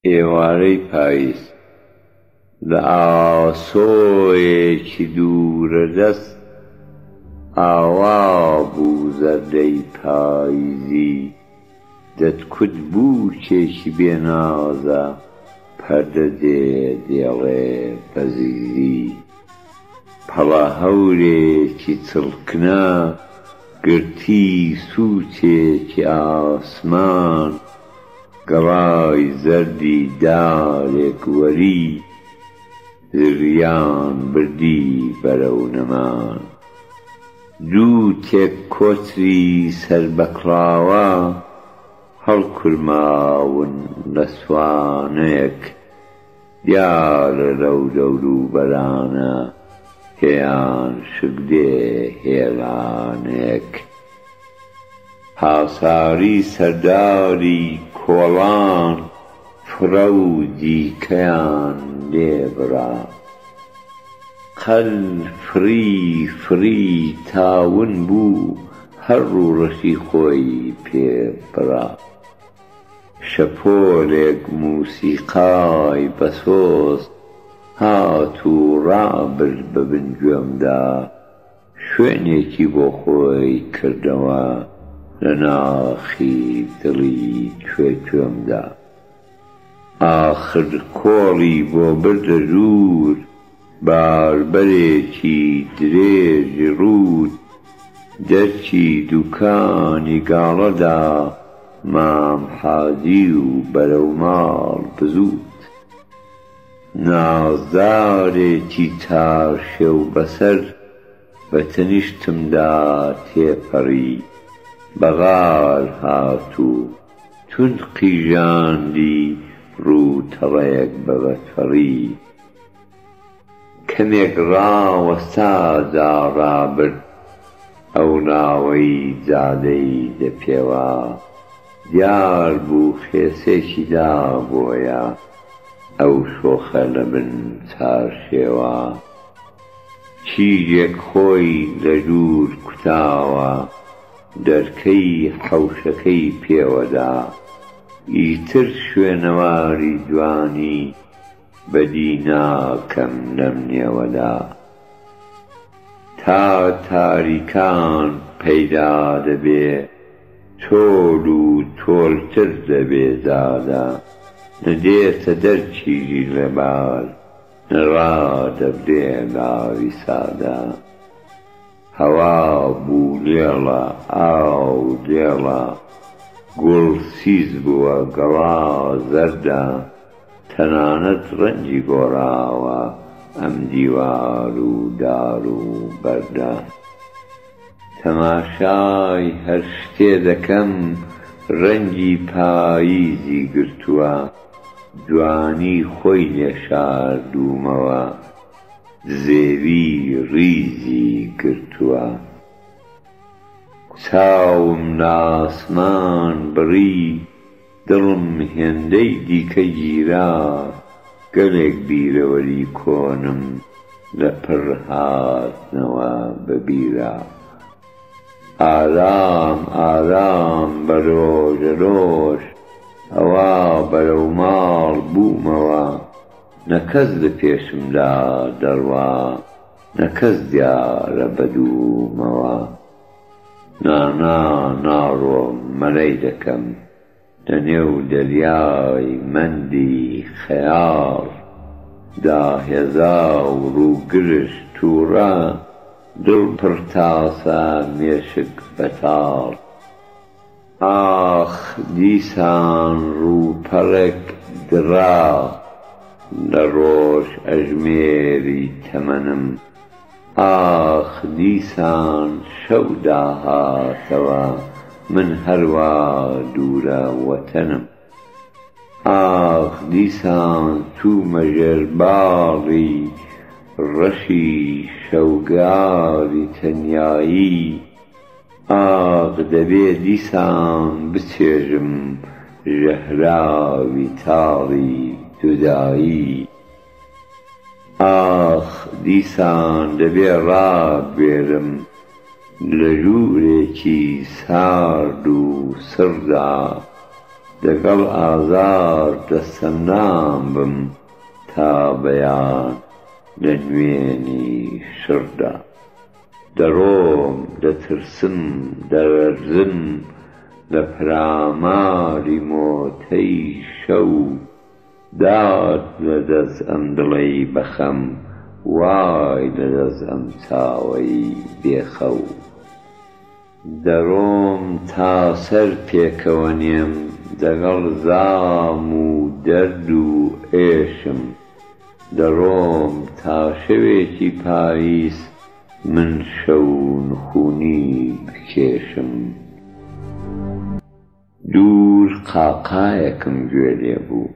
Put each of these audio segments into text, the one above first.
ئێوارەی پاییز لە ئاسۆیەکی دوورەدەست ئاوا بوو زەردەی پاییزی دەتکوت بووکێکی بێ نازە پەردە دێ دێڵێ بە زیزی پەڵە هەورێکی چڵکنە گرتی سووچێکی ئاسمان گەڵای زەردی دارێک وەری زریان بردی بەرەو نەمان دوو تێک کۆتری سەر بە کڵاوە هەڵکورماون لە سوانەیەک دیارە لەو دەوروبەرانە پێیان شک دێ هێلانێک هاساری سەرداری کۆڵان فرە و دیکەیان لێ برا قەل فری فری تاون بوو هەر ڕووڕەشی خۆی پێ برا. شەپۆلێک موسیقای بەسۆز هات و ڕابرد بە بن گوێمدا، شوێنێکی بۆ خۆی کردەوە لە ناخی دڵی توێ توێمدا. ئاخر کۆڵی بۆ بردە دوور. باربەرێکی درێژی ڕووت دەرچی دووکانی گاڵە دا مام حاجی و بەرەو ماڵ بزووت. نازدارێکی تاشێو بەسەر بە تەنیشتم دا تێپەڕی، بە غار هات و توند قیژاندی ڕوو تەڵەیەک بە بەتەڕی. کەمێک ڕاوەستا جا ڕابرد ئەو ناوەی جادەی دە پێوە دیار بوو خێسێکی دا بۆیە ئەو شۆخە لە بن چارشێوە کیژێک خۆی لە دوور کوتاوە دەرکەی حەوشەکەی پێوە دا ئیتر شوێنەواری جوانی بەدی ناکەم نەمنێوە لا. تا تاریکان پەیدا دەبێ تۆل و تۆلتر دەبێ زادە نە دێتە دەر تیری ڕێباز نە ڕادەبرێ لاوی سادە هەوا بوو لێڵە ئاو لێڵە گوڵ سیز بووە گەڵا زەردە تەنانەت ڕەنگی گۆڕاوە ئەم دیوار و دار و بەردە. تەماشای هەر شتێ دەکەم ڕەنگی پاییزی گرتووە، جوانی خۆی لێ شاردوومەوە، زێوی ڕیزی گرتووە. چاوم لە ئاسمان بڕی. دڵم هێندەی دیکە گیرا گەلێک بیرەوەری کۆنم لە پڕ هاتنەوە بە بیرا ئارام ئارام بە رۆژەرۆژ ئەوا بەرەو ماڵ بوومەوە نە کەس لە پێشمدا دەڕوا نە کەس دیارە بە دوومەوە. نانا ناڕۆم مەرەی دەکەم لە نێو دەریای مەندی خەیاڵ دا هێزا و ڕووگرژ تووڕە دڵ پڕ تاسە مێشک بەتاڵ. ئاخ دیسان ڕووپەڕێک دڕا لە ڕۆژ ئەژمێری تەمەنم ئاخ دیسان شەو داهاتەوە من هەروا دوورە وەتەنم ئاخ دیسان چوومە ژێر باڵی ڕەشی شەوگاری تەنیایی ئاخ دەبێ دیسان بچێژم ژەهراوی تاڵی جودایی ئاخ دیسان دەبێ ڕابوێرم لە ژوورێکی سارد و سڕدا دەگەڵ ئازار دەستەمنام بم تا بەیان لە نوێنی شڕدا. دەڕۆم دەترسم دەلەرزم لە پەلاماری مۆتەی شەو دات لە دەست ئەم دڵەی بە خەم وای لە دەست ئەم چاوەی بێ خەو. دەڕۆم تا سەر پێکەوە نێم دەگەڵ زام و دەرد و ئێشم دەڕۆم تا شەوێکی پاییز من شەو نخونی بکێشم دوور قاقایەکم گوێ لێ بوو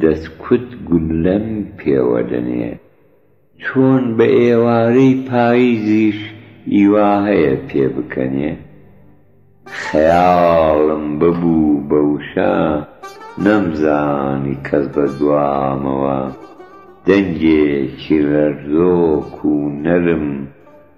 دەسکوت گوللەم پێوە دەنێ. چۆن بە ئێوارەی پایزیش ئیوا هەیە پێ بکەنێ؟ خەیاڵم ببوو بە وشە نەمزانی کەس بە دوامەوە دەنگێکی لەرزۆک و نەرم،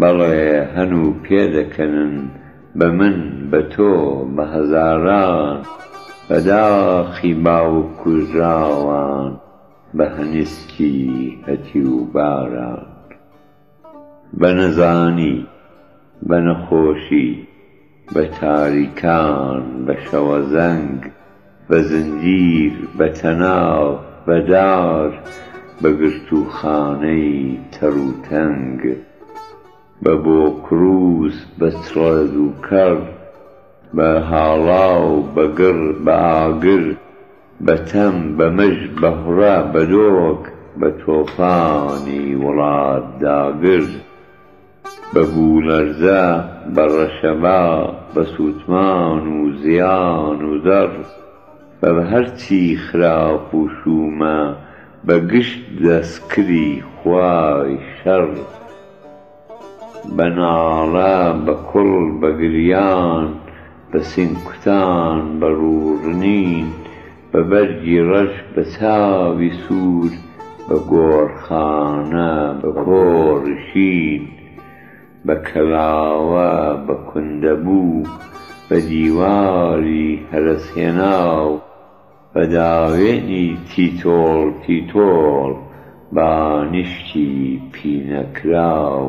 بەڵێ هەن و پێدەکەنن بە من، بە تۆ، بە هەزاران. بە داخی باوک کوژراوان، بە هەنیسکی هەتیوباران. بە نەزانی، بە نەخۆشی. بە تاریکان، بە شەوەزەنگ، بە زنجیر، بە تەناف، بە دار، بە گرتووخانەی تەروتەنگ، بە بۆکرووس، بە چڵێز و کەڕ، بە هاڵاو، بە گڕ، بە ئاگر، بە تەم، بە مژ، بە هڕە، بە دۆک، بە تۆفانی وڵات داگر. بە بوومەرزە، بە ڕەشەبا، بە سووتمان و زیان و زەڕ، بە هەرچی خراپ و شوومە، بە گشت دەسکری خوای شەڕ. بە ناڵە، بە کوڵ، بە گریان، بە سینگکوتان، بە ڕووڕنین، بە بەرگی ڕەش بە چاوی سوور بە گۆڕخانە بە کۆڕی شین بە کەلاوە بە کوندەبوو بە دیواری هەرەسهێناو بە داوێنی تیتۆڵ تیتۆڵ بانیشکی پینەکراو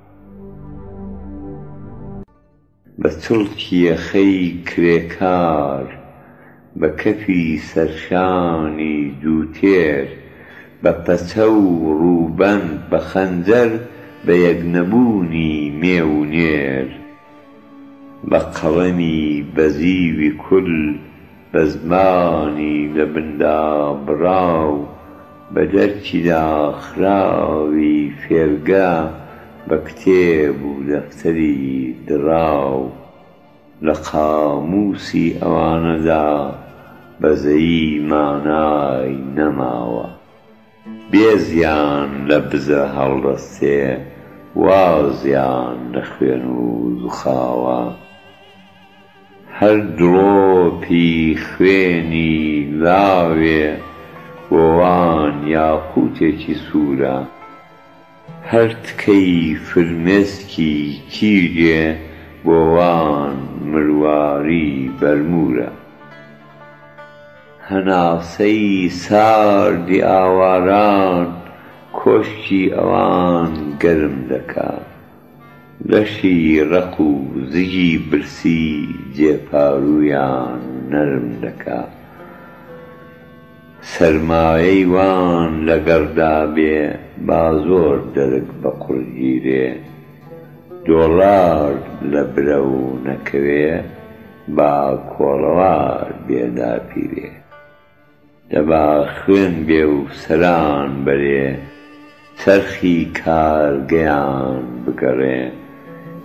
بە چڵکی یەخەی کرێکار، بە کەفی سەرشانی دووتێر، بە پەچە و ڕووبەند، بە خەنجەر، بە یەکنەبوونی مێ و نێر، بە قەڵەمی بەزیوی کول، بە زمانی لە بن دابڕاو، بە دەرکی داخراوی فێرگە، بە کتێب و دەفتەری دڕاو، لە قامووسی ئەوانەدا بەزەیی مانای نەماوە. بێزیان لە بزر هەڵدەستێ، وازیان لە خوێن و زوخاوە. هەر دڵۆپی خوێنی لاوێ بۆ وان یاقووتێکی سوورە، هەر تکەی فرمێسکی تیژێ بۆ وان مرواری بەرموورە. هەناسەی ساردی ئاواران کۆشکی ئەوان گەرم دەکا. لەشی ڕەق و زگی برسی جێپاروویان نەرم دەکا. سەرمایەی وان لەگەڕ دابێ با زۆر دەرک بە قوڕ گیرێ. دۆڵار لە برەو نەکەوێ با کۆڵەوار بێ داپیرێ. دەبا خوێن بێ و سەران بەرێ چەرخی کارگەیان بگەڕێ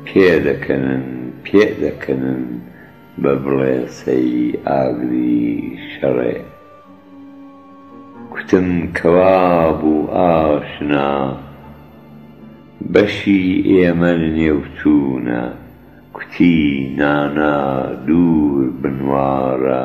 پێ دەکەنن پێ دەکەنن بە بڵێسەی ئاگری شەڕێ کوتم کەوا بوو ئاشنا بەشی ئێمە نێو چوونە کوتی نانا دوور بنواڕە